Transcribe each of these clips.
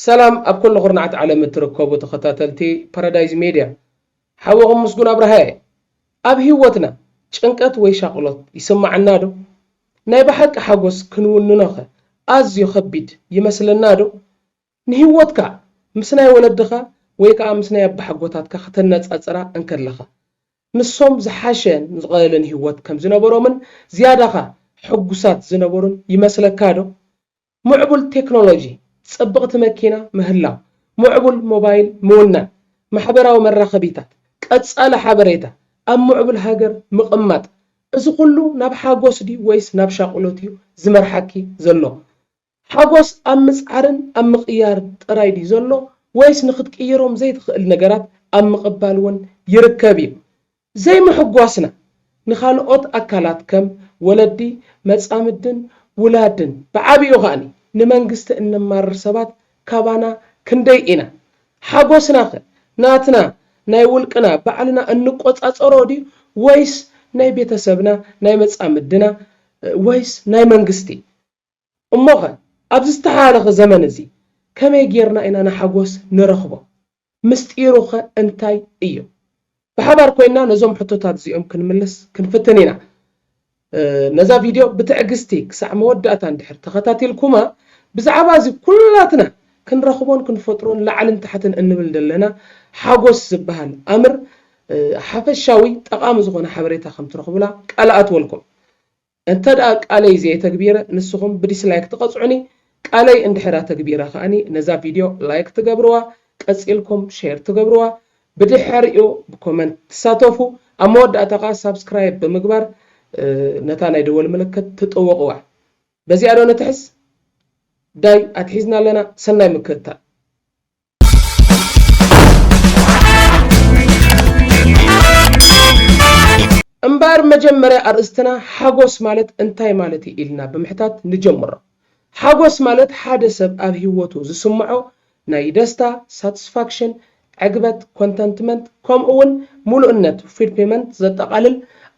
ሰላም ኣብ ኩሉ ኩርናዓት ዓለም እትርከቡ ተኸታተልቲ ፓራዳይዝ ሜድያ ሓወኹም ምስጉን ኣብርሃ እየ። ኣብ ህይወትና ጭንቀት ወይ ሻቕሎት ይስማዓና ዶ? ናይ ብሓቂ ሓጎስ ክንውንኖኸ ኣዝዩ ከቢድ ይመስለና ዶ? ንህይወትካ ምስ ናይ ወለድኻ ወይ ከዓ ምስ ናይ ኣባሓጎታትካ ከተነፃፅራ እንከለኻ ንሶም ዝሓሸ ን ዝቐለለን ሂወት ከም ዝነበሮምን ዝያዳ ከኣ ሕጉሳት ዝነበሩን ይመስለካ ዶ? ሙዕቡል ቴክኖሎጂ፣ ጽብቕቲ መኪና ምህላው፣ ሙዕቡል ሞባይል ምውናን፣ ማሕበራዊ መራኸቢታት፣ ቀጻሊ ሓበሬታ፣ ኣብ ሙዕቡል ሃገር ምቕማጥ፣ እዚ ኩሉ ናብ ሓጎስ ድዩ ወይስ ናብ ሻቕሎት እዩ ዝመርሓኪ ዘሎ? ሓጎስ ኣብ ምጽዓርን ኣብ ምቕያር ጥራይ ድዩ ዘሎ ወይስ ንኽትቅይሮም ዘይትኽእል ነገራት ኣብ ምቕባል እውን ይርከብ እዩ? ዘይምሕጓስና ንኻልኦት ኣካላት ከም ወለዲ፣ መጻምድን ውላድን ብዓቢኡ ኸኣ ንመንግስቲ እነማርር ሰባት ካባና ክንደይ ኢና? ሓጎስናኸ ናትና ናይ ውልቅና ባዕልና እንቆጻጸሮ ድዩ ወይስ ናይ ቤተሰብና፣ ናይ መጻምድና ወይስ ናይ መንግስቲ? እሞኸ ኣብዚ ዝተሓላለኸ ዘመን እዚ ከመይ ጌርና ኢና ንሓጐስ ንረኽቦ? ምስጢሩኸ እንታይ እዩ? ብሓባር ኰይንና ነዞም ሕቶታት እዚኦም ክንምልስ ክንፍትን ኢና። ነዛ ቪድዮ ብትዕግስቲ ክሳዕ መወዳእታ እንድሕር ተኸታቲልኩማ፣ ብዛዕባ እዚ ኵላትና ክንረኽቦን ክንፈጥሮን ላዕልን ታሕትን እንብል ዘለና ሓጐስ ዝበሃል ኣምር ሓፈሻዊ ጠቓሚ ዝዀነ ሓበሬታ ከም ትረኽቡላ ቃል እኣትወልኩም። እንተ ቃለይ ዘየተግቢረ ንስኹም ብዲስላይክ ትቐጽዑኒ ቃለይ እንድሕር ኣተግቢረ ከኣ ነዛ ቪድዮ ላይክ ትገብርዋ ቀጺልኩም ሼር ትገብርዋ ብድሐሪኡ ብኮመንት ትሳተፉ ኣብ መወዳእታ ከኣ ሳብስክራይብ ብምግባር ነታ ናይ ደወል ምልክት ትጥውቕዋ በዚኣ ዶ ንትሕዝ ዳይ ኣትሒዝና ኣለና ሰናይ ምክትታል። እምበኣር መጀመርያ ኣርእስትና ሓጎስ ማለት እንታይ ማለት እዩ ኢልና ብምሕታት ንጀምሮ። ሓጎስ ማለት ሓደ ሰብ ኣብ ህይወቱ ዝስምዖ ናይ ደስታ፣ Satisfaction፣ ዕግበት፣ Contentment፣ ከምኡ'ውን ምሉእነት፣ Fulfillment፣ ዘጠቓልል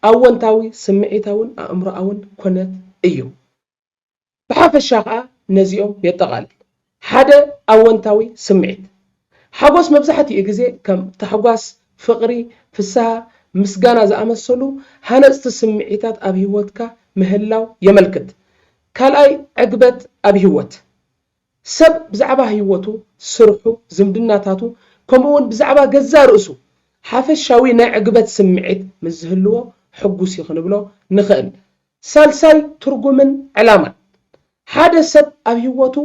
ኣወንታዊ ስምዒታውን ኣእምሮኣውን ኩነት እዩ። ብሓፈሻ ከኣ ነዚኦም የጠቓልል። ሓደ ኣወንታዊ ስምዒት። ሓጎስ መብዛሕትኡ ግዜ ከም ታሕጓስ፣ ፍቕሪ፣ ፍስሃ፣ ምስጋና ዝኣመሰሉ ሃነጽቲ ስምዒታት ኣብ ህይወትካ ምህላው የመልክት። ካልኣይ ዕግበት ኣብ ህይወት። ሰብ ብዛዕባ ህይወቱ፣ ስርሑ፣ ዝምድናታቱ ከምኡ'ውን ብዛዕባ ገዛእ ርእሱ ሓፈሻዊ ናይ ዕግበት ስምዒት ምስ ዝህልዎ ሕጉስ'ዩ ክንብሎ ንኽእል። ሳልሳይ ትርጉምን ዕላማን፣ ሓደ ሰብ ኣብ ህይወቱ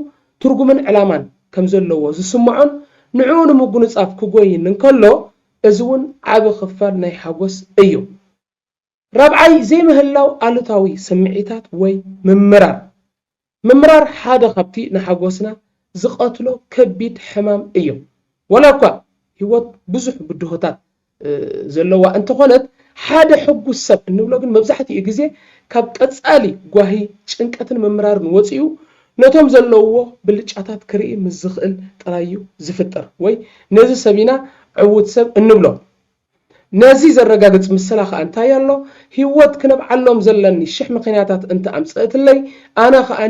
ትርጉምን ዕላማን ከም ዘለዎ ዝስምዖን ንዕኡ ንምጉንጻፍ ክጎይን እንከሎ እዚ እውን ዓቢ ክፋል ናይ ሓጎስ እዩ። ራብዓይ ዘይምህላው ኣሉታዊ ስምዒታት ወይ ምምራር፣ ምምራር ሓደ ካብቲ ንሓጎስና ዝቐትሎ ከቢድ ሕማም እዮ። ዋላ እኳ ህይወት ብዙሕ ብድሆታት ዘለዋ እንተኾነት፣ ሓደ ሕጉስ ሰብ እንብሎ ግን መብዛሕትኡ ግዜ ካብ ቀጻሊ ጓሂ ጭንቀትን ምምራርን ወጺኡ ነቶም ዘለውዎ ብልጫታት ክርኢ ምስ ዝኽእል ጥራይ እዩ ዝፍጠር ወይ ነዚ ሰብ ኢና ዕዉት ሰብ እንብሎ። ነዚ ዘረጋግጽ ምስላ ከኣ እንታይ ኣሎ? ህይወት ክነብዓሎም ዘለኒ ሽሕ ምኽንያታት እንተ ኣምጸእትለይ፣ ኣነ ከኣ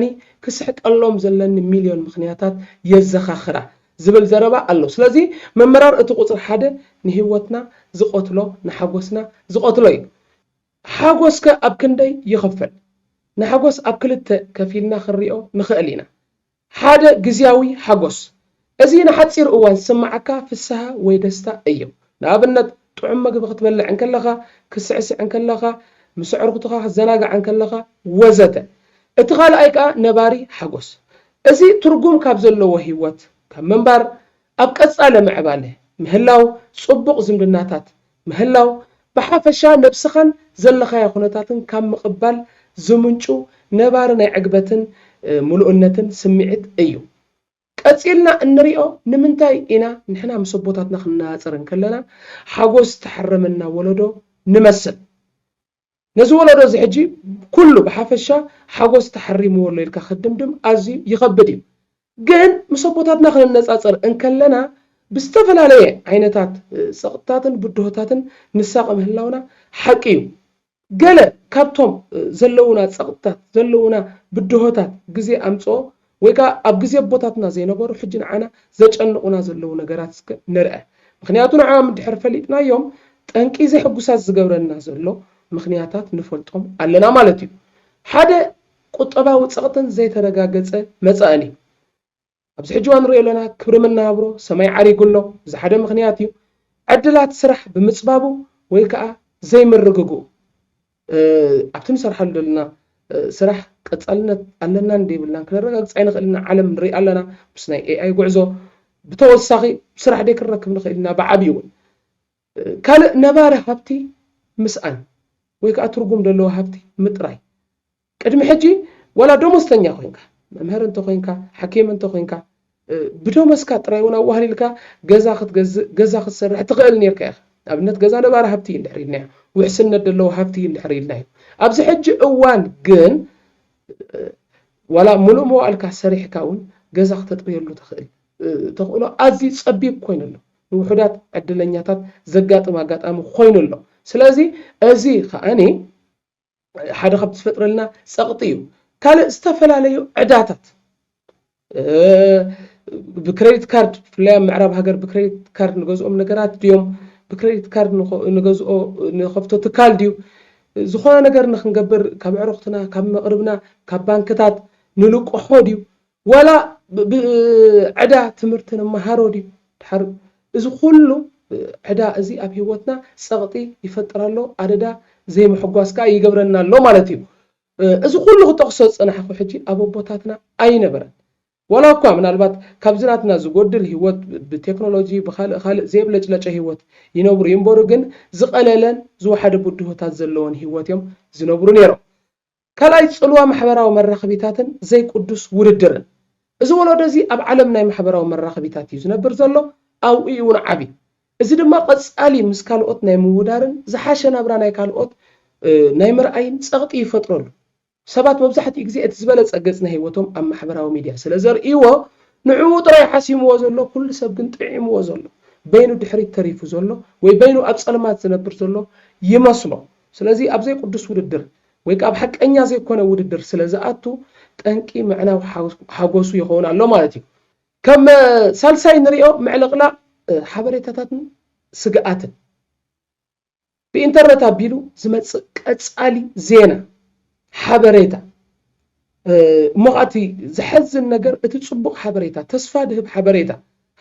ክስሕቀሎም ዘለኒ ሚልዮን ምኽንያታት የዘኻኽራ ዝብል ዘረባ ኣሎ። ስለዚ ምምራር እቲ ቁጽሪ ሓደ ንህይወትና ዝቐትሎ ንሓጎስና ዝቐትሎ እዩ። ሓጎስከ ኣብ ክንደይ ይኽፈል? ንሓጎስ ኣብ ክልተ ከፊልና ክንሪኦ ንኽእል ኢና። ሓደ ግዝያዊ ሓጎስ፣ እዚ ንሓጺር እዋን ዝስምዓካ ፍስሃ ወይ ደስታ እዩ። ንኣብነት፣ ጥዑም መግቢ ክትበልዕ እንከለኻ፣ ክትስዕስዕ እንከለኻ፣ ምስ ኣዕሩኽትኻ ክትዘናጋዕ እንከለኻ፣ ወዘተ። እቲ ካልኣይ ከኣ ነባሪ ሓጎስ፣ እዚ ትርጉም ካብ ዘለዎ ህይወት፣ ካብ ምንባር፣ ኣብ ቀጻሊ ምዕባለ ምህላው፣ ጽቡቕ ዝምድናታት ምህላው፣ ብሓፈሻ ነብስኻን ዘለኻዮ ኩነታትን ካብ ምቕባል ዝምንጩ ነባሪ ናይ ዕግበትን ምሉእነትን ስምዒት እዩ። ቀጺልና እንሪኦ ንምንታይ ኢና ንሕና ምስ ኣቦታትና ክንነጻጸር እንከለና ሓጎስ ዝተሓረመና ወለዶ ንመስል? ነዚ ወለዶ እዚ ሕጂ ኩሉ ብሓፈሻ ሓጎስ ተሓሪምዎ ኣሎ ኢልካ ክትድምድም ኣዝዩ ይኸብድ እዩ። ግን ምስ ኣቦታትና ክነነጻጽር እንከለና ብዝተፈላለየ ዓይነታት ጸቕጥታትን ብድሆታትን ንሳቐ ምህላውና ሓቂ እዩ። ገለ ካብቶም ዘለዉና ጸቕጥታት፣ ዘለዉና ብድሆታት ግዜ ኣምጽኦ ወይ ከኣ ኣብ ግዜ ኣቦታትና ዘይነበሩ ሕጂ ንዓና ዘጨንቑና ዘለዉ ነገራት እስከ ንርኣ። ምኽንያቱ ንዕኣም እንድሕር ፈሊጥናዮም ጠንቂ ዘሕጉሳት ዝገብረና ዘሎ ምኽንያታት ንፈልጦም ኣለና ማለት እዩ። ሓደ ቁጠባዊ ጸቕጥን ዘይተረጋገጸ መጻእን እዩ። ኣብዚ ሕጂ እዋን ንርእዮ ኣለና ክብሪ መነባብሮ ሰማይ ዓሪጉ ኣሎ። እዚ ሓደ ምኽንያት እዩ። ዕድላት ስራሕ ብምጽባቡ ወይ ከኣ ዘይምርግግኡ። ኣብቲ ንሰርሓሉ ዘለና ስራሕ ቀፃልነት ኣለናን ዶ የብልናን ክነረጋግፅ ኣይንኽእልን ኢና፣ ዓለም ንርኢ ኣለና ምስ ናይ AI ጉዕዞ ብተወሳኺ ስራሕ ዶ ክንረክብ ንኽእል ኢና ብዓብዪ እውን ካልእ ነባሪ ሃብቲ ምስኣን ወይ ከዓ ትርጉም ዘለዎ ሃብቲ ምጥራይ ቅድሚ ሕጂ ዋላ ደሞዝተኛ ኮይንካ፣ መምህር እንተ ኮይንካ፣ ሓኪም እንተ ኮይንካ፣ ብደሞዝካ ጥራይ እውን ኣዋህሊልካ ገዛ ክትገዝእ፣ ገዛ ክትሰርሕ ትኸእል ኔርካ ኢኻ። ንኣብነት ገዛ ነባሪ ሃብቲ እዩ እንድሕር ኢልናዮ፣ ውሕስነት ደለዎ ሃብቲ እዩ እንድሕር ኢልናዮ። ኣብዚ ሕጂ እዋን ግን ዋላ ምሉእ መዋእልካ ሰሪሕካ እውን ገዛ ክተጥርየሉ ትኸእል ተኽእሎ ኣዝዩ ጸቢብ ኮይኑ ኣሎ። ንውሑዳት ዕድለኛታት ዘጋጥም ኣጋጣሚ ኮይኑ ኣሎ። ስለዚ እዚ ከኣ ሓደ ካብቲ ዝፈጥረልና ፀቕጢ እዩ ካልእ ዝተፈላለዩ ዕዳታት ብክሬዲት ካርድ ብፍላይ ኣብ ምዕራብ ሃገር ብክሬዲት ካርድ ንገዝኦም ነገራት ድዮም ብክሬዲት ካርድ ንገዝኦ ንኸፍቶ ትካል ድዩ ዝኾነ ነገር ንክንገብር ካብ ኣዕሩኽትና ካብ መቕርብና ካብ ባንክታት ንልቅሖ ድዩ ዋላ ብ ዕዳ ትምህርቲ ንመሃሮ ድዩ ድሓር እዚ ኩሉ ዕዳ እዚ ኣብ ሂወትና ጸቕጢ ይፈጥር ኣሎ ኣደዳ ዘይምሕጓስ ከኣ ይገብረና ኣሎ ማለት እዩ እዚ ኩሉ ክጠቕሶ ዝጸናሕኩ ሕጂ ኣብ ኣቦታትና ኣይነበረን ዋላ እኳ ምናልባት ካብዚ ናትና ዝጎድል ሂወት ብ ቴክኖሎጂ ብ ካልእ ካልእ ዘየብለጭለጨ ሂወት ይነብሩ ይንበሩ ግን ዝቐለለን ዝወሓደ ብድሆታት ዘለዎን ሂወት እዮም ዝነብሩ ኔሮም ካልኣይ ጽልዋ ማሕበራዊ መራኽቢታትን ዘይቁዱስ ውድድርን። እዚ ወሎዶ እዚ ኣብ ዓለም ናይ ማሕበራዊ መራኽቢታት እዩ ዝነብር ዘሎ፣ ኣብኡ እዩ እውን ዓቢ። እዚ ድማ ቀጻሊ ምስ ካልኦት ናይ ምውዳርን ዝሓሸ ናብራ ናይ ካልኦት ናይ ምርኣይን ጸቕጢ ይፈጥረሉ። ሰባት መብዛሕትኡ ግዜ እቲ ዝበለጸ ገጽ ናይ ህይወቶም ኣብ ማሕበራዊ ሚድያ ስለ ዘርእይዎ ንዕኡ ጥራይ ሓሲምዎ ዘሎ ኩሉ ሰብ ግን ጥዒምዎ ዘሎ በይኑ ድሕሪት ተሪፉ ዘሎ ወይ በይኑ ኣብ ጸልማት ዝነብር ዘሎ ይመስሎ። ስለዚ ኣብ ዘይቁዱስ ውድድር ወይ ከኣ ኣብ ሓቀኛ ዘይኮነ ውድድር ስለ ዝኣቱ ጠንቂ ምዕናው ሓጎሱ ይኸውን ኣሎ ማለት እዩ። ከም ሳልሳይ ንሪኦ ምዕልቕላቕ ሓበሬታታትን ስግኣትን ብኢንተርነት ኣቢሉ ዝመጽእ ቀጻሊ ዜና፣ ሓበሬታ፣ እሞ ኸኣ እቲ ዘሐዝን ነገር እቲ ጽቡቕ ሓበሬታ፣ ተስፋ ድህብ ሓበሬታ፣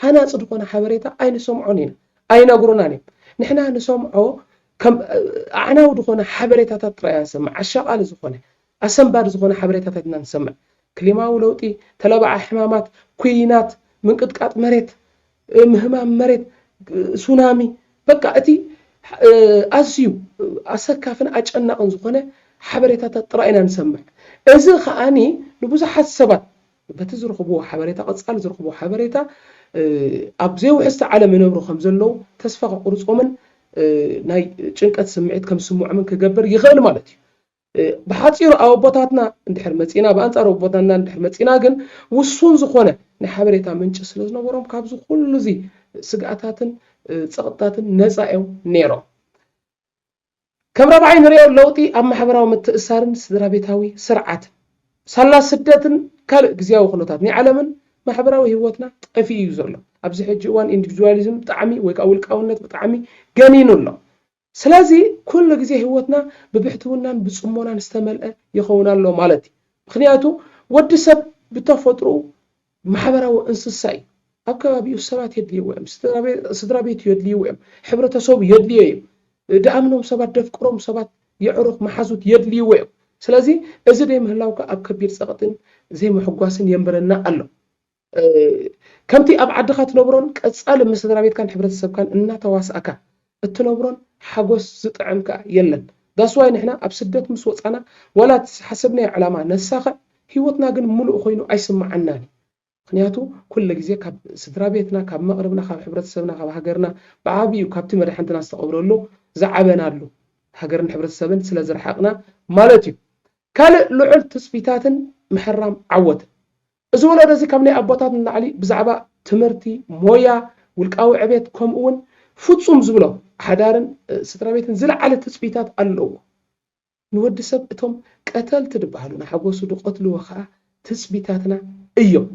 ሃናጺ ዝኾነ ሓበሬታ ኣይንሰምዖን ኢና፣ ኣይነግሩናን እዮም። ንሕና ንሰምዖ ከም ኣዕናዊ ዝኾነ ሓበሬታታት ጥራይ ኢና ንሰምዕ፣ ኣሻቓሊ ዝኾነ፣ ኣሰንባዲ ዝኾነ ሓበሬታታት ኢና ንሰምዕ። ክሊማዊ ለውጢ፣ ተለባዒ ሕማማት፣ ኩይናት፣ ምንቅጥቃጥ መሬት፣ ምህማም መሬት፣ ሱናሚ፣ በቃ እቲ ኣዝዩ ኣሰካፍን ኣጨናቕን ዝኾነ ሓበሬታታት ጥራይ ኢና ንሰምዕ። እዚ ከኣ ንብዙሓት ሰባት በቲ ዝረኽብዎ ሓበሬታ ቀጻሊ ዝረኽብዎ ሓበሬታ ኣብ ዘይውሕስቲ ዓለም ይነብሩ ከም ዘለዉ ተስፋ ከቑርጾምን ናይ ጭንቀት ስምዒት ከም ዝስምዖምን ክገብር ይኽእል ማለት እዩ። ብሓጺሩ ኣብ ኣቦታትና እንድሕር መጺእና ብኣንጻር ኣቦታትና እንድሕር መጺእና ግን ውሱን ዝኾነ ናይ ሓበሬታ ምንጪ ስለ ዝነበሮም ካብዚ ኩሉ እዚ ስግኣታትን ጸቕጥታትን ነጻ እዮም ነይሮም። ከም ራብዓይ ንሪኦ ለውጢ ኣብ ማሕበራዊ ምትእስሳርን ስድራቤታዊ ስርዓትን። ሳላ ስደትን ካልእ ግዝያዊ ኩነታት ናይ ዓለምን ማሕበራዊ ህይወትና ጠፊኡ እዩ ዘሎ። ኣብዚ ሕጂ እዋን ኢንዲቪድዋሊዝም ብጣዕሚ ወይ ከኣ ውልቃውነት ብጣዕሚ ገኒኑ ኣሎ። ስለዚ ኩሉ ግዜ ህይወትና ብብሕትውናን ብጽሞናን ዝተመልአ ይኸውን ኣሎ ማለት እዩ። ምኽንያቱ ወዲ ሰብ ብተፈጥርኡ ማሕበራዊ እንስሳ እዩ። ኣብ ከባቢኡ ሰባት የድልይዎ እዮም። ስድራቤቱ የድልይዎ እዮም። ሕብረተሰቡ የድልዮ እዩ። ድኣምኖም ሰባት፣ ደፍቅሮም ሰባት፣ የዕሩኽ፣ መሓዙት የድልይዎ እዮም። ስለዚ እዚ ዘይምህላው ከኣ ኣብ ከቢድ ጸቕጥን ዘይምሕጓስን የንብረና ኣሎ። ከምቲ ኣብ ዓድኻ ትነብሮን ቀጻሊ ምስ ስድራቤትካን ሕብረተሰብካን እናተዋሳእካ እትነብሮን ሓጎስ ዝጥዕም ከኣ የለን። That's why ንሕና ኣብ ስደት ምስ ወጻና ዋላ እቲ ዝሓሰብናዮ ዕላማ ነሳኽዕ ህይወትና ግን ምሉእ ኮይኑ ኣይስምዓናን እዩ። ምኽንያቱ ኩሉ ግዜ ካብ ስድራቤትና፣ ካብ መቕርብና፣ ካብ ሕብረተሰብና፣ ካብ ሃገርና ብዓቢኡ ካብቲ መዳሕንትና ዝተቐብረሉ፣ ዝዓበናሉ፣ ሃገርን ሕብረተሰብን ስለ ዝረሓቕና ማለት እዩ። ካልእ ልዑል ትጽቢታትን ምሕራም ዓወትን። እዚ ወለዶ እዚ ካብ ናይ ኣቦታት ንላዕሊ ብዛዕባ ትምህርቲ፣ ሞያ፣ ውልቃዊ ዕቤት ከምኡ ውን ፍጹም ዝብሎ ሓዳርን ስድራቤትን ዝለዓለ ትጽቢታት ኣለዎ። ንወዲ ሰብ እቶም ቀተልቲ ድበሃሉ ንሓጎሱ ድቀትልዎ ከኣ ትጽቢታትና እዮም።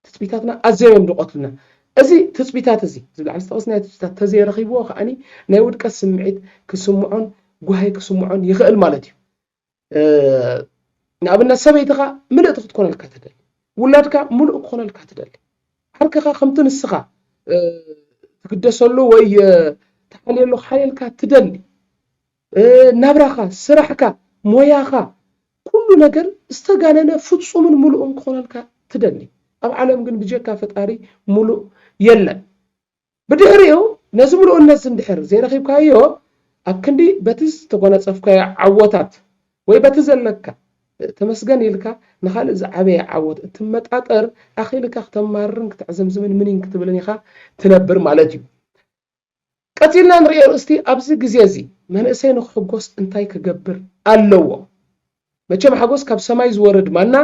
ትጽቢታትና ኣዘዮም እዮም ድቀትሉና። እዚ ትጽቢታት እዚ እዚ ብላዕሊ ዝጠቀስናዮ ትጽቢታት ተዘይረኺብዎ ከኣ ናይ ውድቀት ስምዒት ክስምዖን ጓሂ ክስምዖን ይኽእል ማለት እዩ። ንኣብነት ሰበይትኻ ምልእቲ ክትኮነልካ ትደሊ፣ ውላድካ ምሉእ ክኾነልካ ትደሊ፣ ዓርክኻ ከምቲ ንስኻ ትግደሰሉ ወይ ትሓልየሉ ሓልየልካ ትደሊ፣ ናብራኻ፣ ስራሕካ፣ ሞያኻ ኩሉ ነገር ዝተጋነነ ፍፁምን ምሉእን ክኾነልካ ትደሊ። ኣብ ዓለም ግን ብጀካ ፈጣሪ ምሉእ የለን። ብድሕሪኡ ነዚ ምሉእነትዚ እንድሕር ዘይረኺብካዮ ኣብ ክንዲ በቲ ዝተጎናጸፍካዮ ዓወታት ወይ በቲ ዘለካ ተመስገን ኢልካ ንኻልእ ዝዓበየ ዓወት እትመጣጠር ኣኺልካ ክተማርርን ክተዕዘምዝምን ምኒን ክትብልን ኢኻ ትነብር ማለት እዩ። ቀጺልና ንርእዮ እስቲ ኣብዚ ግዜዚ መንእሰይ ንክሕጎስ እንታይ ክገብር ኣለዎ? መቸም ሓጎስ ካብ ሰማይ ዝወርድ ማና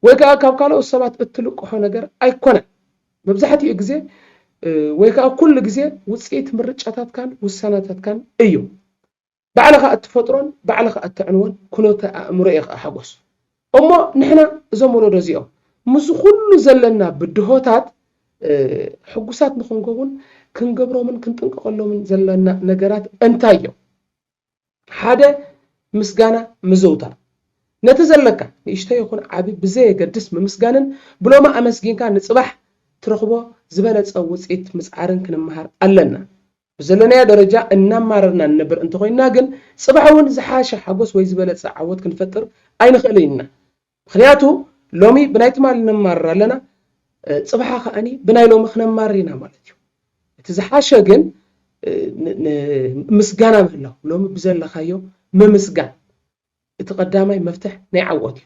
ወይ ከኣ ካብ ካልኦት ሰባት እትልቅሖ ነገር ኣይኮነን። መብዛሕትኡ ግዜ ወይ ከኣ ኩሉ ግዜ ውጽኢት ምርጫታትካን ውሳነታትካን እዩ። ባዕልኻ እትፈጥሮን ባዕልኻ እተዕንዎን ኩነተ ኣእምሮ እዩ ከኣ ሓጎስ። እሞ ንሕና እዞም ወለዶ እዚኦም ምስዚ ኩሉ ዘለና ብድሆታት ሕጉሳት ንኽንከውን ክንገብሮምን ክንጥንቀቐሎምን ዘለና ነገራት እንታይ እዮም? ሓደ ምስጋና ምዝውታር፣ ነቲ ዘለካ ንእሽቶ ይኹን ዓቢ ብዘየገድስ ምምስጋንን ብሎሚ ኣመስጊንካ ንጽባሕ ትረኽቦ ዝበለጸ ውጽኢት ምጽዓርን ክንመሃር ኣለና። ብዘለናዮ ደረጃ እናማረርና ንነብር እንተኾይንና ግን ጽባሕ'ውን ዝሓሸ ሓጎስ ወይ ዝበለጸ ዓወት ክንፈጥር ኣይንኽእልን ኢና። ምኽንያቱ ሎሚ ብናይ ትማሊ ነማርር ኣለና፣ ጽባሓ ከኣኒ ብናይ ሎሚ ክነማርር ኢና ማለት እዩ። እቲ ዝሓሸ ግን ምስጋና ምህላው፣ ሎሚ ብዘለካዮ ምምስጋን እቲ ቀዳማይ መፍትሕ ናይ ዓወት እዩ።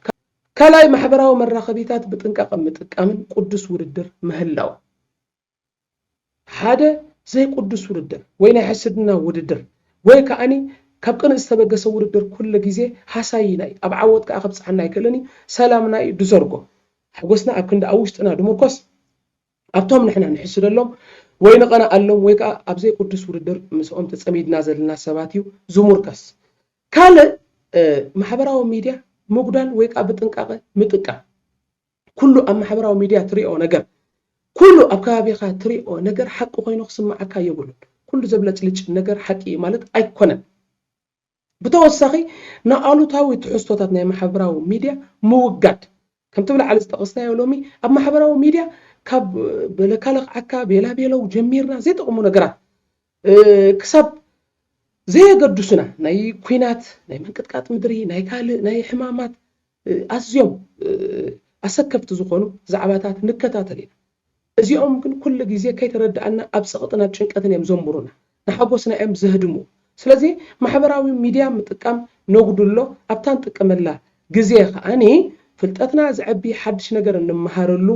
ካልኣይ ማሕበራዊ መራኸቢታት ብጥንቃቐ ምጥቃምን ቁዱስ ውድድር ምህላው። ሓደ ዘይቁዱስ ውድድር ወይ ናይ ሕስድና ውድድር ወይ ከኣኒ ካብ ቅንእ ዝተበገሰ ውድድር ኩሉ ግዜ ሃሳይና እዩ ኣብ ዓወት ከኣ ከብጽሓና ኣይክእልን እዩ ሰላምና እዩ ድዘርጎ ሓጎስና ኣብ ክንዲ ኣብ ውሽጥና ድምርኮስ ኣብቶም ንሕና ንሕስደሎም ወይ ንቐንኣሎም ወይ ከኣ ኣብ ዘይቁዱስ ውድድር ምስኦም ተጸሚድና ዘለና ሰባት እዩ ዝሙርከስ ካልእ ማሕበራዊ ሚድያ ምጉዳል ወይ ከኣ ብጥንቃቐ ምጥቃም። ኩሉ ኣብ ማሕበራዊ ሚድያ ትሪኦ ነገር ኩሉ ኣብ ከባቢኻ ትሪኦ ነገር ሓቂ ኮይኑ ክስመዓካ የብሉን ኩሉ ዘብለጭልጭ ነገር ሓቂ እዩ ማለት ኣይኮነን ብተወሳኺ ንኣሉታዊ ትሕዝቶታት ናይ ማሕበራዊ ሚድያ ምውጋድ ከምቲ ብላዕሊ ዝጠቐስናዮ ሎሚ ኣብ ማሕበራዊ ሚድያ ካብ በለካ ለኽዓካ ቤላ ቤለው ጀሚርና ዘይጠቕሙ ነገራት ክሳብ ዘየገዱሱና ናይ ኩናት ናይ ምንቅጥቃጥ ምድሪ ናይ ካልእ ናይ ሕማማት ኣዝዮም ኣሰከፍቲ ዝኾኑ ዛዕባታት ንከታተል ኢና። እዚኦም ግን ኩሉ ግዜ ከይተረዳእና ኣብ ጸቕጥን ኣብ ጭንቀትን እዮም ዘንቡሩና። ንሓጎስና እዮም ዘህድሙ። ስለዚ ማሕበራዊ ሚድያ ምጥቃም ነጉድሎ፣ ኣብታ ንጥቀመላ ግዜ ከኣ ፍልጠትና ዘዕቢ፣ ሓድሽ ነገር እንመሃረሉ፣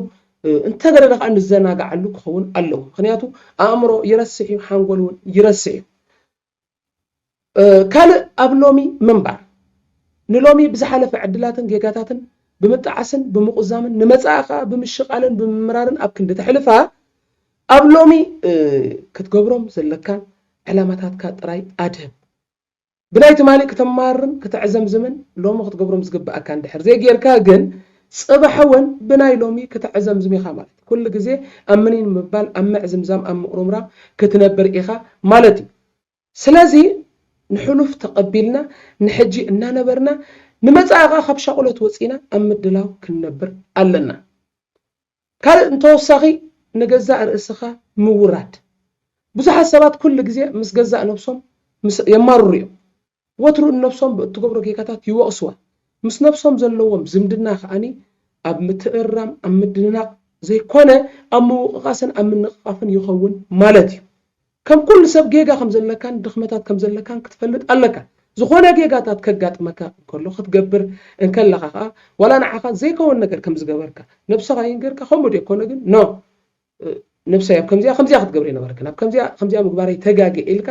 እንተገደደ ከኣ ንዘናግዓሉ ክኸውን ኣለዎ። ምኽንያቱ ኣእምሮ ይረስሕ እዩ፣ ሓንጎል እውን ይረስሕ እዩ። ካልእ ኣብ ሎሚ ምንባር ንሎሚ ብዝሓለፈ ዕድላትን ጌጋታትን ብምጣዓስን ብምቑዛምን ንመጻኢ ከኣ ብምሽቓልን ብምምራርን ኣብ ክንዲ ተሕልፋ ኣብ ሎሚ ክትገብሮም ዘለካን ዕላማታትካ ጥራይ ኣድህብ። ብናይ ትማሊ ክተማርርን ክተዕዘምዝምን ሎሚ ክትገብሮም ዝግብኣካ እንድሕር ዘይጌርካ ግን ጽባሕ ወን ብናይ ሎሚ ክተዕዘምዝም ኢኻ ማለት እዩ። ኩሉ ግዜ ኣብ ምኒን ምባል፣ ኣብ ምዕዝምዛም፣ ኣብ ምቁርምራም ክትነብር ኢኻ ማለት እዩ። ስለዚ ንሕሉፍ ተቐቢልና ንሕጂ እናነበርና ንመጻኢ ከኣ ካብ ሻቑሎት ወጺና ኣብ ምድላው ክንነብር ኣለና። ካልእ ብተወሳኺ ንገዛእ ርእስኻ ምውራድ። ብዙሓት ሰባት ኩሉ ግዜ ምስ ገዛእ ነብሶም ምስ የማርሩ እዮም። ወትሩ ንነብሶም ብእትገብሮ ጌጋታት ይወቕሱዋ። ምስ ነብሶም ዘለዎም ዝምድና ከኣ ኣብ ምትእርራም ኣብ ምድንናቕ ዘይኮነ ኣብ ምውቕቓስን ኣብ ምንቕቓፍን ይኸውን ማለት እዩ። ከም ኩሉ ሰብ ጌጋ ከም ዘለካን ድኽመታት ከም ዘለካን ክትፈልጥ ኣለካ። ዝኾነ ጌጋታት ከጋጥመካ እንከሎ ክትገብር እንከለኻ ከኣ ዋላ ንዓኻ ዘይከወን ነገር ከም ዝገበርካ ነብሰኻ ይንገርካ ከምኡ ድዮ ኮነ ግን no ነብሰይ ኣብ ከምዚኣ ከምዚኣ ክትገብር ኣይነበረክን ኣብ ከምዚኣ ከምዚኣ ምግባረይ ተጋግየ ኢልካ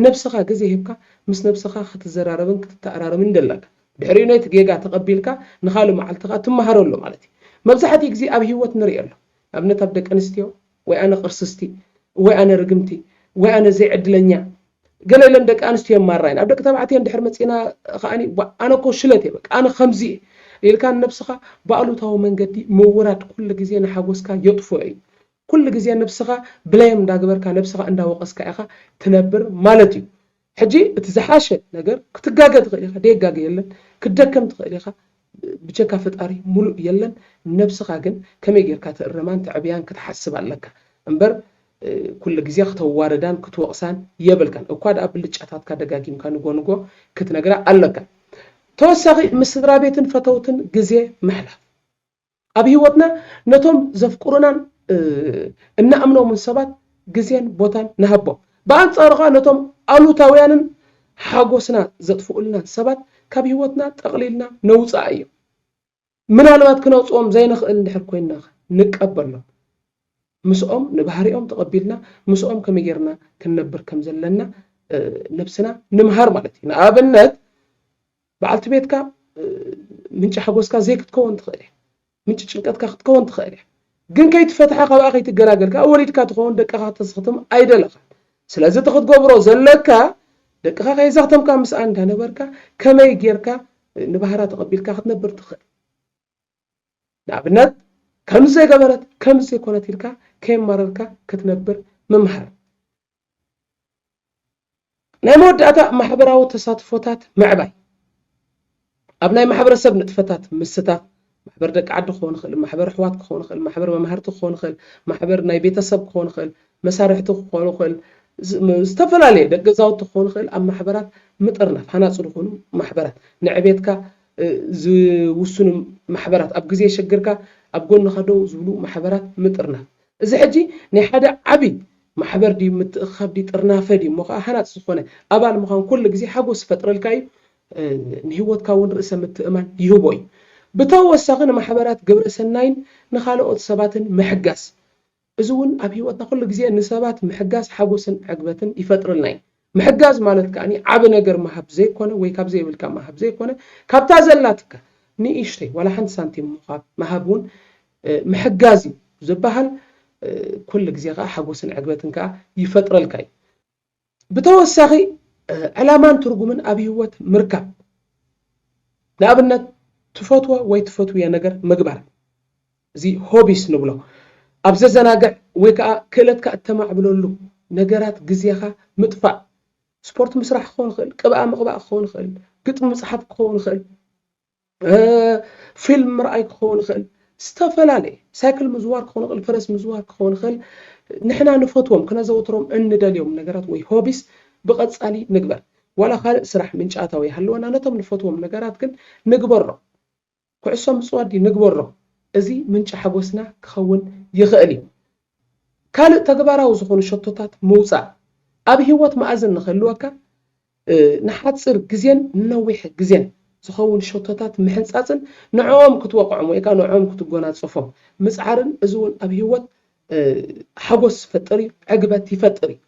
ነብሰኻ ግዜ ሂብካ ምስ ነብሰኻ ክትዘራረብን ክትተኣራረምን ደለካ ድሕሪኡ ነቲ ጌጋ ተቐቢልካ ንኻልእ መዓልቲ ከኣ ትመሃሮ ኣሎ ማለት እዩ። መብዛሕቲኡ ግዜ ኣብ ሂወት ንሪኦ ኣሎ ንኣብነት ኣብ ደቂ ኣንስትዮ ወይ ኣነ ቅርስስቲ ወይ ኣነ ርግምቲ ወይ ኣነ ዘይዕድለኛ ገለ ኢለን ደቂ ኣንስትዮ የማርራ'የን። ኣብ ደቂ ተባዕትዮ እንድሕር መጺእና ከኣ ዋእ ኣነ እኮ ሽለት እየ በቃ ኣነ ከምዚ እየ ኢልካ ንነብስኻ ብኣሉታዊ መንገዲ ምውራድ ኩሉ ግዜ ንሓጎስካ የጥፍኦ እዩ። ኩሉ ግዜ ንብስኻ ብለየም እንዳገበርካ ነብስኻ እንዳወቐስካ ኢኻ ትነብር ማለት እዩ። ሕጂ እቲ ዝሓሸ ነገር ክትጋገ ትኽእል ኢኻ ደየጋገ የለን ክትደከም ትኽእል ኢኻ ብጀካ ፈጣሪ ሙሉእ የለን ነብስኻ ግን ከመይ ጌርካ ትእረማን ተዕብያን ክትሓስብ ኣለካ እምበር ኩሉ ግዜ ክተዋርዳን ክትወቕሳን የብልካን እኳ ድኣ ብልጫታትካ ደጋጊምካ ንጎ ንጎ ክትነግራ ኣለካ ተወሳኺ ምስ ስድራቤትን ፈተውትን ግዜ ምሕላፍ ኣብ ህይወትና ነቶም ዘፍቅሩናን እንኣምኖምን ሰባት ግዜን ቦታን ንሃቦም። ብኣንጻሩ ከኣ ነቶም ኣሉታውያንን ሓጎስና ዘጥፍኡልናን ሰባት ካብ ህይወትና ጠቕሊልና ነውጽኣዮም። ምናልባት ክነውጽኦም ዘይንኽእል እንድሕር ኮይንናኸ? ንቀበሎም። ምስኦም ንባህሪኦም ተቐቢልና ምስኦም ከመይ ጌርና ክንነብር ከም ዘለና ነብስና ንምሃር ማለት እዩ። ንኣብነት በዓልቲ ቤትካ ምንጪ ሓጎስካ ዘይክትከውን ትኽእል እያ። ምንጪ ጭንቀትካ ክትከውን ትኽእል እያ። ግን ከይትፈትሓ ካብኣ ከይትገላገል ከኣ ወሊድካ ትኸውን ደቅኻ ክተዘኽትም ኣይደለኻን። ስለዚ እቲ ክትገብሮ ዘለካ ደቅኻ ከየዘኽተምካ ምስኣ እንዳነበርካ ከመይ ጌርካ ንባህራ ተቐቢልካ ክትነብር ትኽእል። ንኣብነት ከምዚ ዘይገበረት ከምዚ ዘይኮነት ኢልካ ከየማረርካ ክትነብር ምምሃር። ናይ መወዳእታ ማሕበራዊ ተሳትፎታት ምዕባይ፣ ኣብ ናይ ማሕበረሰብ ንጥፈታት ምስታፍ፣ ማሕበር ደቂ ዓዲ ክኸውን ይኽእል፣ ማሕበር ኣሕዋት ክኸውን ይኽእል፣ ማሕበር መማህርቲ ክኸውን ይኽእል፣ ማሕበር ናይ ቤተሰብ ክኸውን ይኽእል፣ መሳርሕቲ ክኾኑ ይኽእል፣ ዝተፈላለየ ደቂ ገዛውቲ ክኾኑ ይኽእል፣ ኣብ ማሕበራት ምጥርናፍ፣ ሃናፂ ዝኾኑ ማሕበራት፣ ንዕቤትካ ዝውስኑ ማሕበራት፣ ኣብ ግዜ ሽግርካ ኣብ ጎንኻ ደው ዝብሉ ማሕበራት ምጥርናፍ። እዚ ሕጂ ናይ ሓደ ዓቢ ማሕበር ድዩ ምትእኽኻብ ድዩ ጥርናፈ ድዩ እሞ ከኣ ሃናጺ ዝኾነ ኣባል ምዃን ኩሉ ግዜ ሓጎስ ይፈጥረልካ እዩ ንህይወትካ እውን ርእሰ ምትእማን ይህቦ እዩ ብተወሳኺ ንማሕበራት ግብረ ሰናይን ንኻልኦት ሰባትን ምሕጋዝ እዚ እውን ኣብ ህይወትና ኩሉ ግዜ ንሰባት ምሕጋዝ ሓጎስን ዕግበትን ይፈጥረልና እዩ ምሕጋዝ ማለት ከኣ ዓቢ ነገር ምሃብ ዘይኮነ ወይ ካብ ዘይብልካ ምሃብ ዘይኮነ ካብታ ዘላትካ ንእሽተይ ዋላ ሓንቲ ሳንቲም ምዃብ ምሃብ ውን ምሕጋዝ እዩ ዝብሃል ኩሉ ግዜ ከኣ ሓጎስን ዕግበትን ከኣ ይፈጥረልካ እዩ ብተወሳኺ ዕላማን ትርጉምን ኣብ ሂወት ምርካብ ንኣብነት ትፈትዎ ወይ ትፈትውዮ ነገር ምግባር እዚ ሆቢስ ንብሎ ኣብ ዘዘናግዕ ወይ ከኣ ክእለትካ እተማዕብለሉ ነገራት ግዜኻ ምጥፋእ ስፖርት ምስራሕ ክኸውን ይኽእል፣ ቅብኣ ምቕባእ ክኸውን ይኽእል፣ ግጥሚ ምጽሓፍ ክኸውን ይኽእል፣ ፊልም ምርኣይ ክኸውን ይኽእል፣ ዝተፈላለየ ሳይክል ምዝዋር ክኸውን ይኽእል፣ ፈረስ ምዝዋር ክኸውን ይኽእል፣ ንሕና ንፈትዎም ክነዘውትሮም እንደልዮም ነገራት ወይ ሆቢስ ብቐጻሊ ንግበር። ዋላ ካልእ ስራሕ ምንጪ ኣታዊ ይሃልወና ነቶም ንፈትዎም ነገራት ግን ንግበሮም። ኩዕሶ ምጽዋድ ንግበሮ፣ እዚ ምንጪ ሓጎስና ክኸውን ይኽእል እዩ። ካልእ ተግባራዊ ዝኾኑ ሸቶታት ምውጻእ፣ ኣብ ህይወት መኣዝን ንኽህልወካ ንሓጺር ግዜን ንነዊሕ ግዜን ዝኸውን ሸቶታት ምሕንጻጽን ንዕኦም ክትወቕዖም ወይ ከኣ ንዕኦም ክትጎናጸፎም ምጽዓርን እዚ እውን ኣብ ህይወት ሓጎስ ዝፈጥር እዩ፣ ዕግበት ይፈጥር እዩ።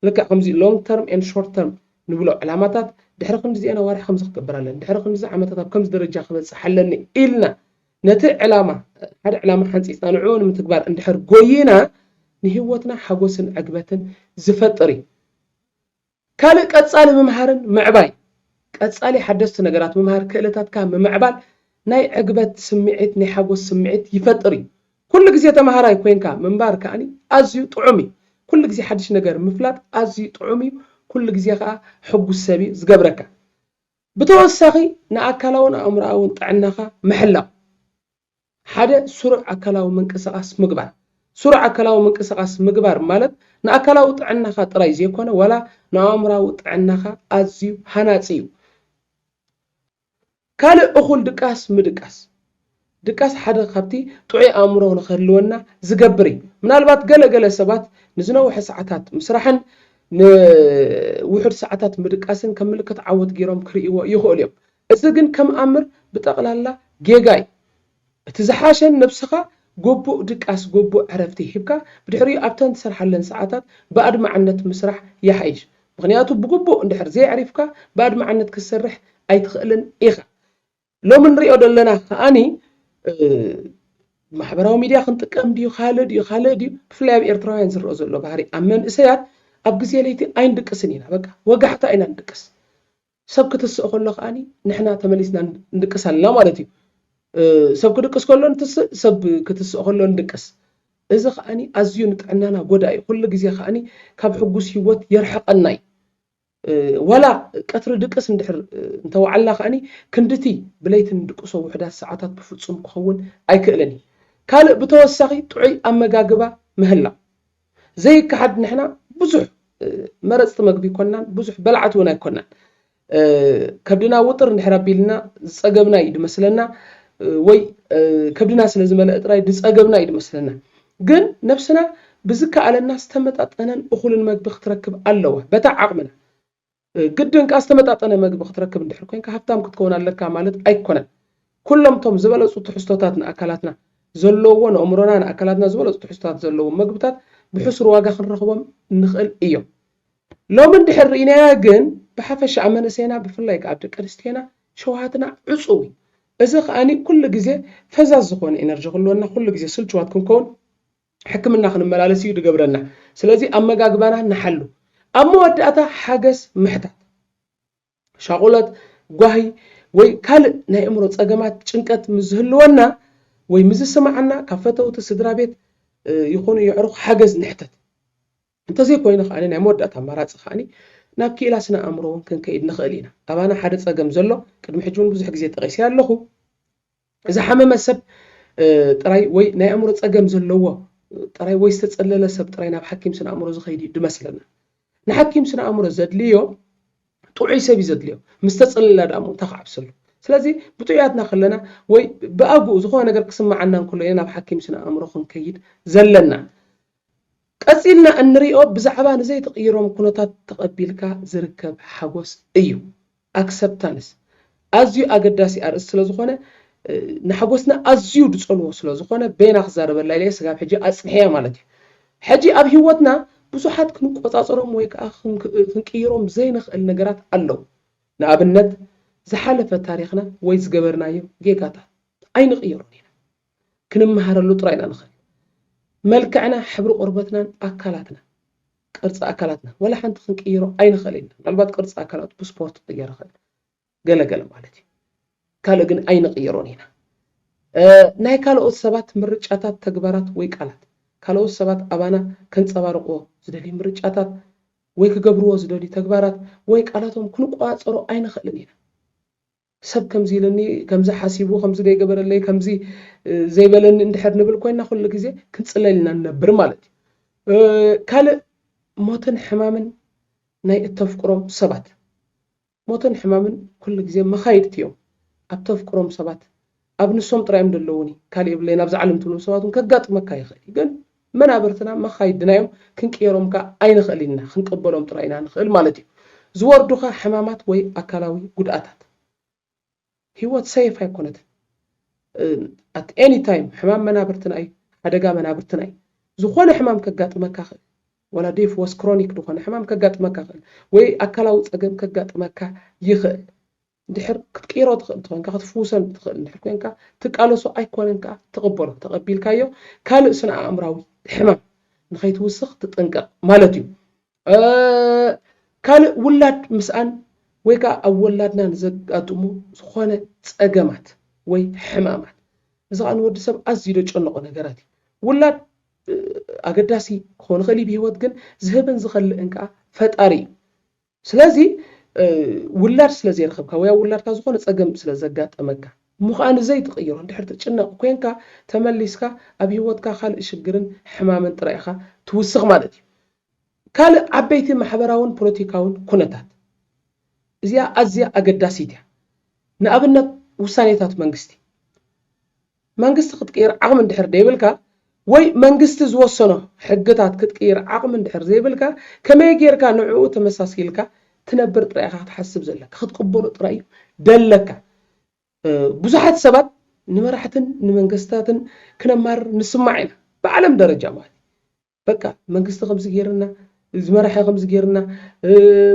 ልክዕ ከምዚ long term and short term ንብሎ ዕላማታት ድሕሪ ክንድዚኤን ኣዋርሕ ከምዚ ክገብር ኣለኒ፣ ድሕሪ ክንድዚ ዓመታት ኣብ ከምዚ ደረጃ ክበጽሕ ኣለኒ ኢልና ነቲ ዕላማ ሓደ ዕላማ ሓንጺጽና ንዕኡ ንምትግባር እንድሕር ጎይና ንህይወትና ሓጎስን ዕግበትን ዝፈጥር እዩ። ካልእ ቀጻሊ ምምሃርን ምዕባይ ቀጻሊ ሓደስቲ ነገራት ምምሃር ክእለታትካ ምምዕባል ናይ ዕግበት ስምዒት ናይ ሓጎስ ስምዒት ይፈጥር እዩ። ኩሉ ግዜ ተማሃራይ ኮይንካ ምንባር ከኣ ኣዝዩ ጥዑም እዩ። ኩሉ ግዜ ሓድሽ ነገር ምፍላጥ ኣዝዩ ጥዑም እዩ፣ ኩሉ ግዜ ከኣ ሕጉስ ሰብ እዩ ዝገብረካ። ብተወሳኺ ንኣካላውን ኣእምሮኣውን ጥዕናኻ ምሕላው። ሓደ ስሩዕ ኣካላዊ ምንቅስቓስ ምግባር። ስሩዕ ኣካላዊ ምንቅስቓስ ምግባር ማለት ንኣካላዊ ጥዕናኻ ጥራይ ዘይኮነ ዋላ ንኣእምሮኣዊ ጥዕናኻ ኣዝዩ ሃናጺ እዩ። ካልእ እኹል ድቃስ ምድቃስ። ድቃስ ሓደ ኻብቲ ጥዑይ ኣእምሮ ንኺህልወና ዚገብር እዩ። ምናልባት ገለ ገለ ሰባት ንዝነውሐ ሰዓታት ምስራሕን ንውሑድ ሰዓታት ምድቃስን ከም ምልክት ዓወት ገይሮም ኪርእይዎ ይኽእሉ እዮም። እዚ ግን ከም ኣምር ብጠቕላላ ጌጋ እዩ። እቲ ዝሓሸ ንነብስኻ ጎቡእ ድቃስ ጎቡእ ዕረፍቲ ሂብካ ብድሕሪኡ ኣብተን ትሰርሓለን ሰዓታት ብኣድማዕነት ምስራሕ ይሓይሽ ምኽንያቱ ብጉቡእ እንድሕር ዘየዕሪፍካ ብኣድማዕነት ክትሰርሕ ኣይትኽእልን ኢኻ ሎሚ ንሪኦ ደለና ከኣኒ ማሕበራዊ ሚድያ ክንጥቀም ድዩ ካልእ ድዩ ካልእ ድዩ ብፍላይ ኣብ ኤርትራውያን ዝረኦ ዘሎ ባህሪ ኣብ መንእሰያት ኣብ ግዜ ለይቲ ኣይንድቅስን ኢና በቃ ወጋሕታ ኢና ንድቅስ ሰብ ክትስእ ከሎ ከኣ ንሕና ተመሊስና ንድቅስ ኣለና ማለት እዩ። ሰብ ክድቅስ ከሎ ንትስእ፣ ሰብ ክትስእ ከሎ ንድቅስ። እዚ ከኣ ኣዝዩ ንጥዕናና ጎዳኢ እዩ። ኩሉ ግዜ ከኣ ካብ ሕጉስ ህይወት የርሕቐና እዩ። ዋላ ቀትሪ ድቅስ እንድሕር እንተወዓልና ከኣ ክንድቲ ብለይቲ ንድቅሶ ውሑዳት ሰዓታት ብፍጹም ክኸውን ኣይክእልን እዩ። ካልእ ብተወሳኺ ጥዑይ ኣመጋግባ ምህላው። ዘይከሓድ ንሕና ብዙሕ መረፅቲ መግቢ ኣይኮናን፣ ብዙሕ በላዕቲ እውን ኣይኮናን። ከብድና ውጥር እንድሕር ኣቢልና ዝፀገብና እዩ ዝመስለና ወይ ከብድና ስለ ዝመለአ ጥራይ ዝፀገብና እዩ ዝመስለና። ግን ነብስና ብዝከኣለና ዝተመጣጠነን እኹልን መግቢ ክትረክብ ኣለዋ በታ ዓቕምና። ብግድንካ ዝተመጣጠነ መግቢ ክትረክብ እንድሕር ኮንካ ሃብታም ክትከውን ኣለካ ማለት ኣይኮነን። ኩሎም እቶም ዝበለጹ ትሕዝቶታት ንኣካላትና ዘለዉዎ ንእምሮና ንኣካላትና ዝበለጹ ትሕዝቶታት ዘለዎም መግብታት ብሕሱር ዋጋ ክንረኽቦም ንኽእል እዮም። ሎሚ እንድሕር ርኢናያ ግን ብሓፈሻ ኣብ መንእሰይና ብፍላይ ከኣ ኣብ ደቂ ኣንስትዮና ሸውሃትና ዕጹው እዩ። እዚ ከኣ ኩሉ ግዜ ፈዛዝ ዝኾነ ኢነርጂ ክህልወና ኩሉ ግዜ ስልቹዋት ክንከውን ሕክምና ክንመላለስ እዩ ዝገብረና። ስለዚ ኣመጋግባና ንሓሉ። ኣብ መወዳእታ ሓገዝ ምሕታት። ሻቑለት፣ ጓሂ ወይ ካልእ ናይ እምሮ ጸገማት ጭንቀት ምስ ዝህልወና ወይ ምስ ዝስምዓና ካብ ፈተውቲ፣ ስድራ ቤት ይኹኑ የዕሩኽ ሓገዝ ንሕተት። እንተዘይኮይኑ ከኣ ናይ መወዳእታ ኣማራጺ ከኣ ናብ ክኢላ ስነ ኣእምሮ እውን ክንከይድ ንኽእል ኢና። ኣባና ሓደ ጸገም ዘሎ ቅድሚ ሕጂ እውን ብዙሕ ግዜ ጠቒሰያ ኣለኹ። ዝሓመመ ሰብ ጥራይ ወይ ናይ ኣእምሮ ጸገም ዘለዎ ጥራይ ወይ ዝተጸለለ ሰብ ጥራይ ናብ ሓኪም ስነ ኣእምሮ ዝኸይድ እዩ ድመስለና። ንሓኪም ስነ ኣእምሮ ዘድልዮ ጥዑይ ሰብ እዩ ዘድልዮ። ምስ ተጸለላ ደኣሞ እንታይ ክዓብሰሉ። ስለዚ ብጥዑያትና ከለና ወይ ብኣግኡ ዝኾነ ነገር ክስምዓና እንከሎ ኢና ናብ ሓኪም ስነ ኣእምሮ ክንከይድ ዘለና። ቀጺልና እንሪኦ ብዛዕባ ንዘይትቕይሮም ኩነታት ተቐቢልካ ዝርከብ ሓጎስ እዩ። Acceptance፣ ኣዝዩ ኣገዳሲ ኣርእስቲ ስለ ዝኾነ ንሓጎስና ኣዝዩ ድጸልዎ ስለ ዝኾነ በየና ክዛረበላ ኢለ ስጋብ ሕጂ ኣጽኒሐያ ማለት እዩ። ሕጂ ኣብ ሂወትና ብዙሓት ክንቆጻጸሮም ወይ ከኣ ክንቅይሮም ዘይንኽእል ነገራት ኣለዉ። ንኣብነት ዝሓለፈ ታሪኽና ወይ ዝገበርናዮ ጌጋታት ኣይንቕይሮን ኢና። ክንመሃረሉ ጥራይ ኢና ንኽእል። መልክዕና፣ ሕብሪ ቆርበትናን ኣካላትናን፣ ቅርጺ ኣካላትናን፣ ዋላ ሓንቲ ክንቅይሮ ኣይንኽእልን ኢና። ምናልባት ቅርጺ ኣካላት ብስፖርት ክቕየር ይኽእል፣ ገለ ገለ ማለት እዩ። ካልእ ግን ኣይንቕይሮን ኢና። ናይ ካልኦት ሰባት ምርጫታት፣ ተግባራት ወይ ቃላት፣ ካልኦት ሰባት ኣባና ከንጸባርቕዎ ዝደልዩ ምርጫታት ወይ ክገብርዎ ዝደልዩ ተግባራት ወይ ቃላቶም ክንቆጻጸሮ ኣይንኽእልን ኢና። ሰብ ከምዚ ኢሉኒ፣ ከምዚ ሓሲቡ፣ ከምዚ ዘይገበረለይ፣ ከምዚ ዘይበለኒ እንድሕር ንብል ኮይና ኩሉ ግዜ ክንጽለል ኢና ንነብር ማለት እዩ። ካልእ ሞትን ሕማምን ናይ እተፍቅሮም ሰባት። ሞትን ሕማምን ኩሉ ግዜ መኻይድቲ እዮም ኣብ እተፍቅሮም ሰባት። ኣብ ንሶም ጥራይ እዮም ደለዉኒ ካልእ የብለይን ኣብዛ ዓለም ትብሎም ሰባት ውን ከጋጥመካ ይኽእል እዩ ግን መናብርትና መኻይድና እዮም ክንቅየሮም ከኣ ኣይንኽእልን ኢና ክንቅበሎም ጥራይ ኢና ንኽእል ማለት እዩ ዝወርዱኻ ሕማማት ወይ ኣካላዊ ጉድኣታት ሂወት ሰይፍ ኣይኮነትን ኣት ኤኒ ታይም ሕማም መናብርትና እዩ ሓደጋ መናብርትና እዩ ዝኾነ ሕማም ከጋጥመካ ይኽእል ወላ ዴፍ ወስ ክሮኒክ ዝኾነ ሕማም ከጋጥመካ ይኽእል ወይ ኣካላዊ ጸገም ከጋጥመካ ይኽእል እንድሕር ክትቅይሮ ትኽእል እንተኾይንካ ክትፍውሰሉ ትኽእል እንድሕር ኮይንካ ትቃለሶ ኣይኮነን ከኣ ትቕበሎ ተቐቢልካዮ ካልእ ስነ ኣእምራዊ ሕማም ንኸይትውስኽ ትጥንቀቕ ማለት እዩ ካልእ ውላድ ምስኣን ወይ ከኣ ኣብ ወላድና ንዘጋጥሙ ዝኾነ ጸገማት ወይ ሕማማት እዚ ከኣ ንወዲ ሰብ ኣዝዩ ዘጨንቖ ነገራት እዩ ውላድ ኣገዳሲ ክኾን ይኽእል እዩ ብሂወት ግን ዝህብን ዝኸልእን ከኣ ፈጣሪ እዩ ስለዚ ውላድ ስለ ዘይረኸብካ ወይ ኣብ ውላድካ ዝኾነ ጸገም ስለ ዘጋጠመካ እሞ ከኣ ንዘይ ትቕይሮ እንድሕር ትጭነቕ ኮንካ ተመሊስካ ኣብ ሂወትካ ካልእ ሽግርን ሕማምን ጥራይ ኢኻ ትውስኽ ማለት እዩ። ካልእ ዓበይቲ ማሕበራውን ፖለቲካውን ኩነታት። እዚኣ ኣዝያ ኣገዳሲት እያ። ንኣብነት ውሳኔታት መንግስቲ። መንግስቲ ክትቅይር ዓቕሚ እንድሕር ደይብልካ ወይ መንግስቲ ዝወሰኖ ሕግታት ክትቅይር ዓቕሚ እንድሕር ዘይብልካ ከመይ ጌርካ ንዕኡ ተመሳሲልካ ትነብር ጥራይ ኢኻ ክትሓስብ ዘለካ ክትቅበሎ ጥራይ እዩ ደለካ ብዙሓት ሰባት ንመራሕትን ንመንግስታትን ክነማርር ንስማዕ ኢና ብዓለም ደረጃ ማለት በቃ መንግስቲ ከምዚ ጌርና ዝመራሒ ከምዚ ጌርና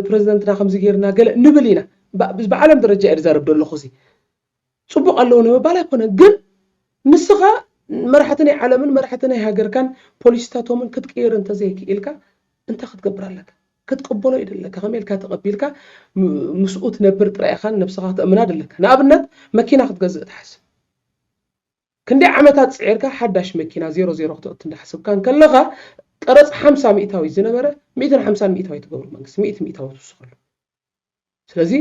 ፕረዚደንትና ከምዚ ጌርና ገለ ንብል ኢና ብዓለም ደረጃ እየ ዝዛረብ ዘለኹ እዚ ፅቡቕ ኣለዉ ንምባል ኣይኮነን ግን ንስኻ መራሕቲ ናይ ዓለምን መራሕቲ ናይ ሃገርካን ፖሊሲታቶምን ክትቅይር እንተዘይክኢልካ እንታይ ክትገብር ኣለካ ክትቅበሎ እዩ ደለካ ከመይ ኢልካ ተቐቢልካ ምስኡ ትነብር ጥራይ ኢኻን ነብስኻ ክተእምና ደለካ ንኣብነት መኪና ክትገዝእ ትሓስብ ክንደይ ዓመታት ጽዒርካ ሓዳሽ መኪና ዜሮ ዜሮ ክተእቱ እንዳሓሰብካ እንከለኻ ቀረጽ ሓምሳ ሚእታዊት ዝነበረ ሚእትን ሓምሳን ሚእታዊት ትገብሮ መንግስቲ ሚእቲ ሚእታዊት ትውስኸሉ ስለዚ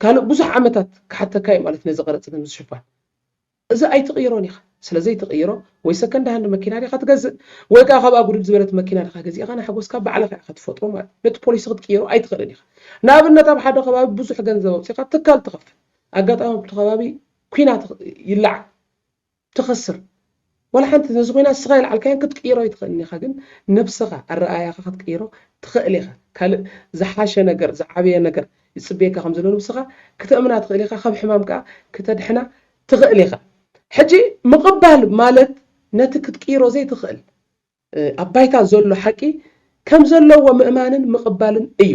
ካልእ ብዙሕ ዓመታት ክሓተካ እዩ ማለት ነዚ ቀረጽ ንምሽፋን እዚ ኣይትቕይሮን ኢኻ ስለዘይ ትቕይሮ ወይ ሰከንድ ሃንድ መኪና ዲኻ ትገዝእ ወይ ከዓ ካብኣ ጉድል ዝበለት መኪና ዲኻ ገዚእኻ ንሓጎስካ ባዕልኻ ኢኻ ትፈጥሮ ማለት ነቲ ፖሊሲ ክትቅይሮ ኣይትኽእልን ኢኻ ንኣብነት ኣብ ሓደ ከባቢ ብዙሕ ገንዘብ ኣውፂኻ ትካል ትኸፍት ኣጋጣሚ ኣብቲ ከባቢ ኩናት ይለዓል ትኸስር ዋላ ሓንቲ ነዚ ኩናት ንስኻ የልዓልካዮን ክትቅይሮ ኣይትኽእልን ኢኻ ግን ነብስኻ ኣረኣእያኻ ክትቅይሮ ትኽእል ኢኻ ካልእ ዝሓሸ ነገር ዝዓበየ ነገር ይጽበየካ ከም ዘሎ ንብስኻ ክተእምና ትኽእል ኢኻ ካብ ሕማም ከኣ ክተድሕና ትኽእል ኢኻ ሕጂ ምቕባል ማለት ነቲ ክትቅይሮ ዘይትኽእል ኣብ ባይታ ዘሎ ሓቂ ከም ዘለዎ ምእማንን ምቕባልን እዩ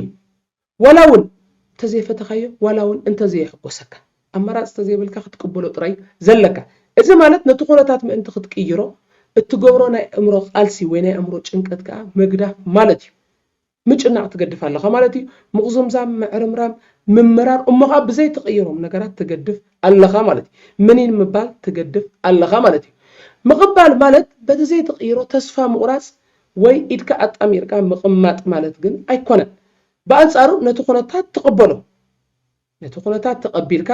ዋላ'ውን እንተዘይፈተኻዮ፣ ዋላ'ውን እንተዘየሕጎሰካ፣ ኣማራጺ ተዘይብልካ ክትቅበሎ ጥራይ'ዩ ዘለካ። እዚ ማለት ነቲ ኩነታት ምእንቲ ክትቅይሮ እትገብሮ ናይ ኣእምሮ ቃልሲ ወይ ናይ ኣእምሮ ጭንቀት ከኣ ምግዳፍ ማለት'ዩ። ምጭናቕ ትገድፍ ኣለኻ ማለት'ዩ። ምቕዝምዛም፣ ምዕርምራም፣ ምምራር እሞ ከኣ ብዘይትቕይሮም ነገራት ትገድፍ ኣለኻ ማለት'ዩ። ምኒን ምባል ትገድፍ ኣለኻ ማለት'ዩ። ምቕባል ማለት በቲ ዘይትቕይሮ ተስፋ ምቑራጽ ወይ ኢድካ ኣጣሚርካ ምቕማጥ ማለት ግን ኣይኮነን። ብኣንጻሩ ነቲ ኩነታት ተቐበሎ። ነቲ ኩነታት ተቐቢልካ፣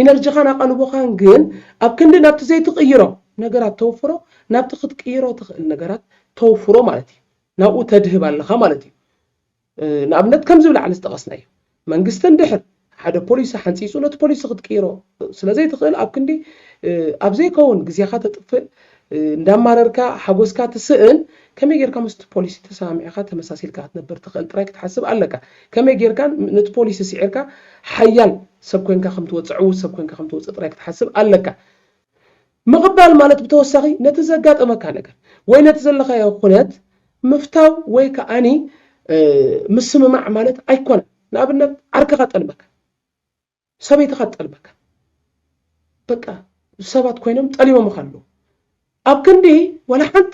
ኢነርጂኻን ኣቓልቦኻን ግን ኣብ ክንዲ ናብቲ ዘይትቕይሮ ነገራት ተውፍሮ፣ ናብቲ ክትቅይሮ ትኽእል ነገራት ተውፍሮ ማለት እዩ። ናብኡ ተድህብ ኣለኻ ማለት እዩ። ንኣብነት ከምዚ ብላዕሊ ዝጠቐስናዮ መንግስቲ እንድሕር። ሓደ ፖሊሲ ሓንጺጹ ነቲ ፖሊሲ ክትቅይሮ ስለ ዘይትኽእል ኣብ ክንዲ ኣብ ዘይከውን ግዜኻ ተጥፍእ እንዳማረርካ ሓጎስካ ትስእን ከመይ ጌርካ ምስቲ ፖሊሲ ተሰማሚዕካ ተመሳሲልካ ክትነብር ትኽእል ጥራይ ክትሓስብ ኣለካ። ከመይ ጌርካ ነቲ ፖሊሲ ስዒርካ ሓያል ሰብ ኮንካ ከም ትወጽእ ዕዉት ሰብ ኮንካ ከም ትወጽእ ጥራይ ክትሓስብ ኣለካ። ምቕባል ማለት ብተወሳኺ ነቲ ዘጋጠመካ ነገር ወይ ነቲ ዘለኻዮ ኩነት ምፍታው ወይ ከኣኒ ምስምማዕ ማለት ኣይኮነን። ንኣብነት ዓርክኻ ጠልመካ፣ ሰበይትኻ ትጠልመካ፣ በቃ ሰባት ኮይኖም ጠሊሞምኻ ኣለዉ። ኣብ ክንዲ ዋላ ሓንቲ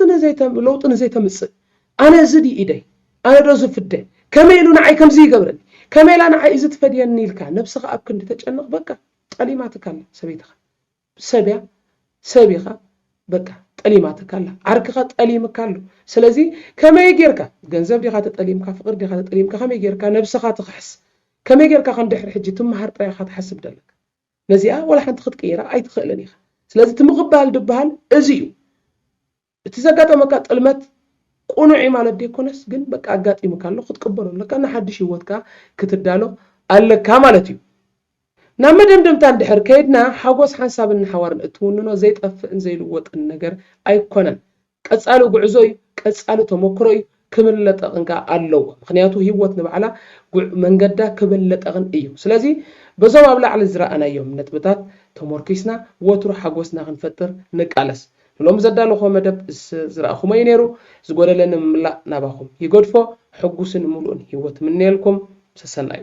ለውጢ ንዘይተምጽእ ኣነ እዚ ድዩ ኢደይ፣ ኣነዶ ዝፍደ፣ ከመይ ኢሉ ንዓይ ከምዚ ይገብረኒ፣ ከመይ ኢላ ንዓይ እዚ ትፈድየኒ ኢልካ ነብስኻ ኣብ ክንዲ ተጨንቕ በቃ ጠሊማትካ ኣላ ሰበይትኻ። ሰብ እያ ሰብ ኢኻ በቃ ጠሊማትካ ኣላ ዓርክኻ ጠሊምካ ኣሎ ስለዚ ከመይ ጌርካ ገንዘብ ዲኻ ተጠሊምካ ፍቅሪ ዲኻ ተጠሊምካ ከመይ ጌርካ ነብስኻ ትኽሕስ ከመይ ጌርካ ከ ድሕሪ ሕጂ ትምሃር ጥራይ ኢኻ ትሓስብ ደለካ ነዚኣ ወላ ሓንቲ ክትቅይራ ኣይትኽእልን ኢኻ ስለዚ እቲ ምቕባል ድብሃል እዚ እዩ እቲ ዘጋጠመካ ጥልመት ቁኑዕ እዩ ማለት ደይኮነስ ግን በቃ ኣጋጢምካ ኣሎ ክትቅበሎ ኣለካ ንሓድሽ ሂወት ከኣ ክትዳሎ ኣለካ ማለት እዩ። ናብ መደምደምታ እንድሕር ከይድና ሓጎስ ሓንሳብን ንሓዋሩን እትውንኖ ዘይጠፍእን ዘይልወጥን ነገር ኣይኮነን ቀጻሊ ጉዕዞ እዩ ቀጻሊ ተመክሮ እዩ ክብለጠቕን ከኣ ኣለዎ ምኽንያቱ ህይወት ንባዕላ ጉዕ መንገዳ ክብለጠቕን እዩ ስለዚ በዞም ኣብ ላዕሊ ዝረኣናዮም ነጥብታት ተሞርኪስና ወትሩ ሓጎስና ክንፈጥር ንቃለስ ንሎሚ ዘዳለኹዎ መደብ ዝረኣኹሞ እዩ ነይሩ ዝጎደለ ንምምላእ ናባኹም ይገድፎ ሕጉስን ምሉእን ህይወት እምነየልኩም ሰሰናዩ።